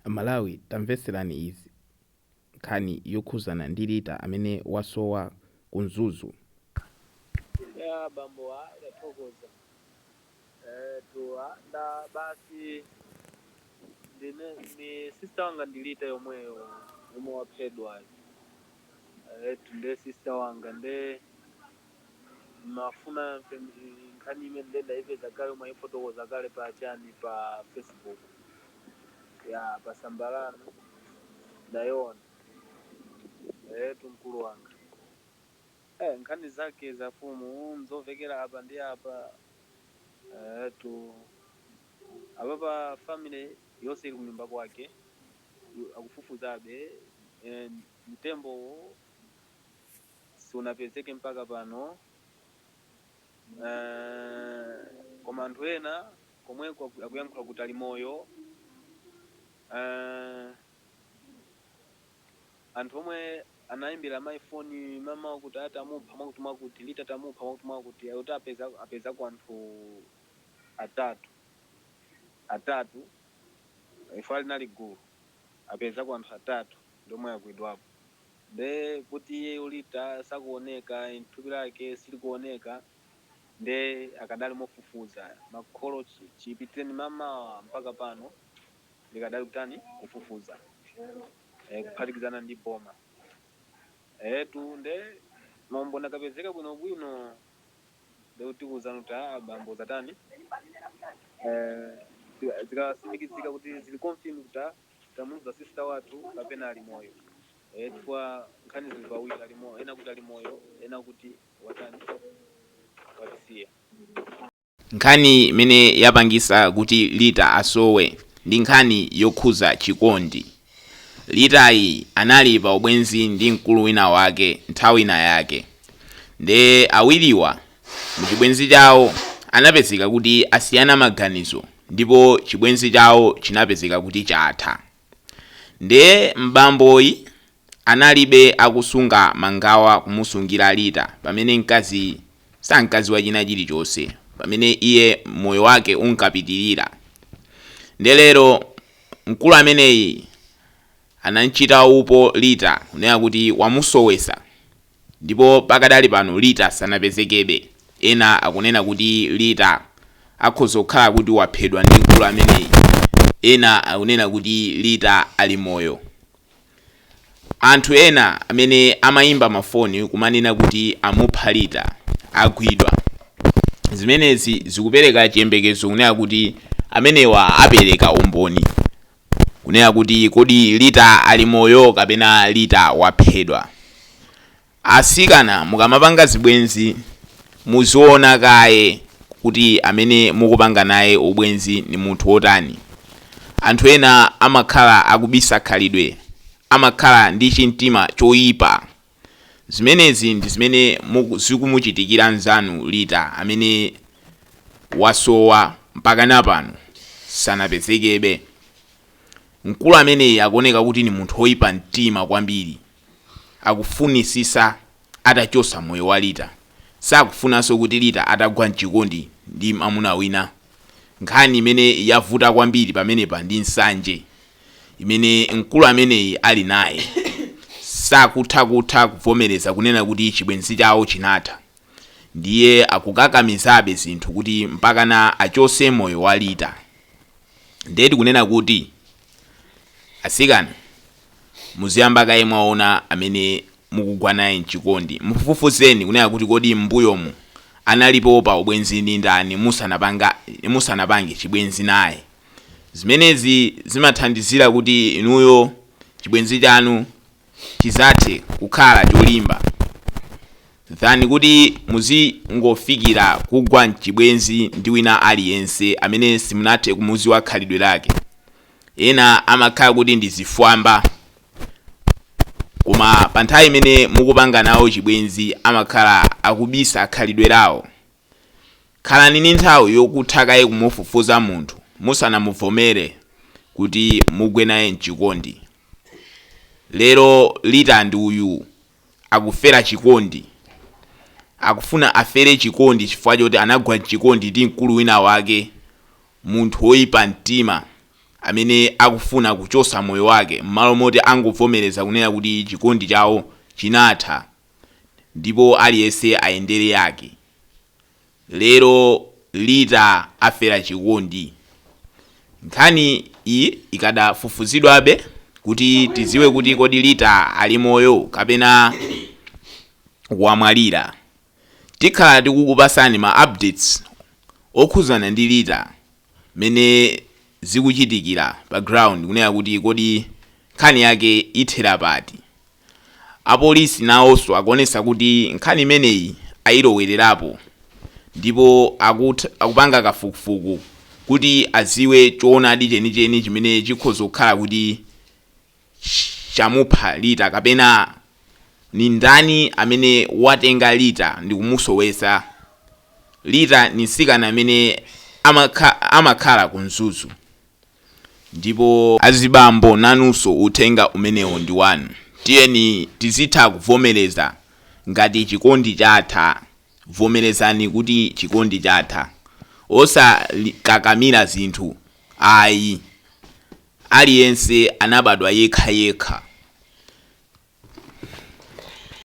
Amalawi tamvetserani izi nkhani yokhuzana ndi Lita amene wasowa ku Mzuzu. Eya abambowa tathokoza eetu nda basi ndine ndi sister wanga ndi Lita yomweyo yemwe waphedwayo eetu nde sister wanga nde. mafuna amve mzi- nkhani imene ndinaimva kale omwe ayifotokoza kale pa chani pa facebook ya pa samba lanu ndayona etu mkulu wanga eh, nkhani zake za fumu nzomvekera apa ndi apa etu apa pa family yonse ili kunyumba kwake yu- akufufuzabe eh, mtembowo sunapezeke mpaka pano Eh, koma anthu ena komweko aku- akuyankhula kuti ali moyo Eh, anthu omwe anayimbira mafoni mama kuti aa tamupha mwakuti mwakuti Lita tamupha mwakuti mwakuti kuti apeza apezako anthu atatu atatu eh anali gulu apezako anthu atatu ndiomwe agwidwapo Nde kuti iyeyo Lita sakuoneka and thupi lake silikuoneka nde akadali mofufuza makolo chipitileni mamawa mpaka pano akadali kutani kufufuza eh kuphatikizana ndi boma eetu nde maumboni akapezeka bwinobwino nde tikuuzani kuti aa bambo zatani eh zika- zikasindikizika kuti zili confirm kuti ah, tamuuza sister wathu kapena ali moyo eh, chifukwa nkhani zili pawiri ali moyo ena kuti ali moyo ena kuti watani watisiya Nkhani imene yapangisa kuti Lita asowe ndi nkhani yokhuza chikondi. Litayi anali pa ubwenzi ndi mkulu wina wake nthawi inayake. Nde awiriwa Mu chibwenzi chawo anapezeka kuti asiyana maganizo ndipo chibwenzi chawo chinapezeka kuti chatha. Nde m'bamboyi analibe akusunga mangawa kumusungira Lita pamene mkazi sankadziwa china chilichonse pamene iye moyo wake unkapitilira. Nde lero mkulu ameneyi anamchita upo Lita kunena kuti wamusowesa. Ndipo pakadali pano Lita sanapezekebe. Ena akunena kuti Lita akhoza kukhala kuti waphedwa ndi mkulu ameneyi. Ena akunena kuti Lita ali moyo. Anthu ena amene amayimba mafoni kumanena kuti amupha Lita, agwidwa. Zimenezi zikupereka chiyembekezo kunena kuti amenewa apereka umboni. kunena kuti kodi Lita ali moyo kapena Lita waphedwa. Atsikana mukamapanga zibwenzi muziona kaye kuti amene mukupanga naye ubwenzi ndi munthu wotani. Anthu ena amakhala akubisa khalidwe, amakhala ndi chimtima choipa. Zimenezi ndi zimene zikumuchitikira nzanu Lita amene wasowa mpakana pano sanapezekebe. Mkulu ameneyi akuoneka kuti ni munthu oipa mtima kwambiri. Akufunisisa atachosa moyo wa Lita. Sakufunaso kuti Lita atagwa mchikondi ndi mamuna wina. Nkhani imene yavuta kwambiri pamenepa ndi nsanje. imene mkulu ameneyi ali naye sakutha kutha kuvomereza kunena kuti chibwenzi chawo chinatha ndiye akukakamizabe zinthu kuti mpakana achose moyo wa lita ndiye tikunena kuti asikana muziyamba kaye mwaona amene mukugwa naye mchikondi mufufuzeni kunena kuti kodi mbuyomu anali pa ubwenzi ndi ndani musanapanga musanapange chibwenzi naye Zimenezi zimathandizira kuti inuyo chibwenzi chanu chidzathe kukhala cholimba than kuti muzingofikira kugwa mchibwenzi ndi wina aliyense amene simunathe kumuziwa khalidwe lake. Ena amakhala kuti ndi zifwamba koma pa nthawi imene mukupanga nawo chibwenzi amakhala akubisa khalidwe lawo. Khalani ndi nthawi yokutha kaye kumufufuza munthu musanamuvomere kuti mugwe naye mchikondi. Lero Lita ndi uyu akufera chikondi. Akufuna afere chikondi chifukwa choti anagwa mchikondi ndi mkulu wina wake, munthu woipa mtima amene akufuna kuchosa moyo wake mmalo moti angovomereza kunena kuti chikondi chawo chinatha. ndipo aliyense ayendere yake lero lita afera chikondi nkhani iyi ikadafufuzidwabe kuti tiziwe kuti kodi lita ali moyo kapena wamwalira tikhala tikukupasani ma updates okhuzana ndi lita mmene zikuchitikira pa ground kunena kuti kodi nkhani yake ithera pati. Apolisi nawonso akuonetsa kuti nkhani imeneyi ayilowererapo ndipo akupanga kafukufuku kuti adziwe choonadi chenicheni chimene chikhoza kukhala kuti chamupha Lita kapena ni ndani amene watenga Lita ndikumusowesa? Lita ni nsikana amene amakhala ku Mzuzu ndipo azibambo nanuso uthenga umenewo ndi wanu tiyeni tizitha kuvomeleza ngati chikondi chatha vomelezani kuti chikondi chatha osakakamila zinthu ayi Aliyense anabadwa yekha yekha.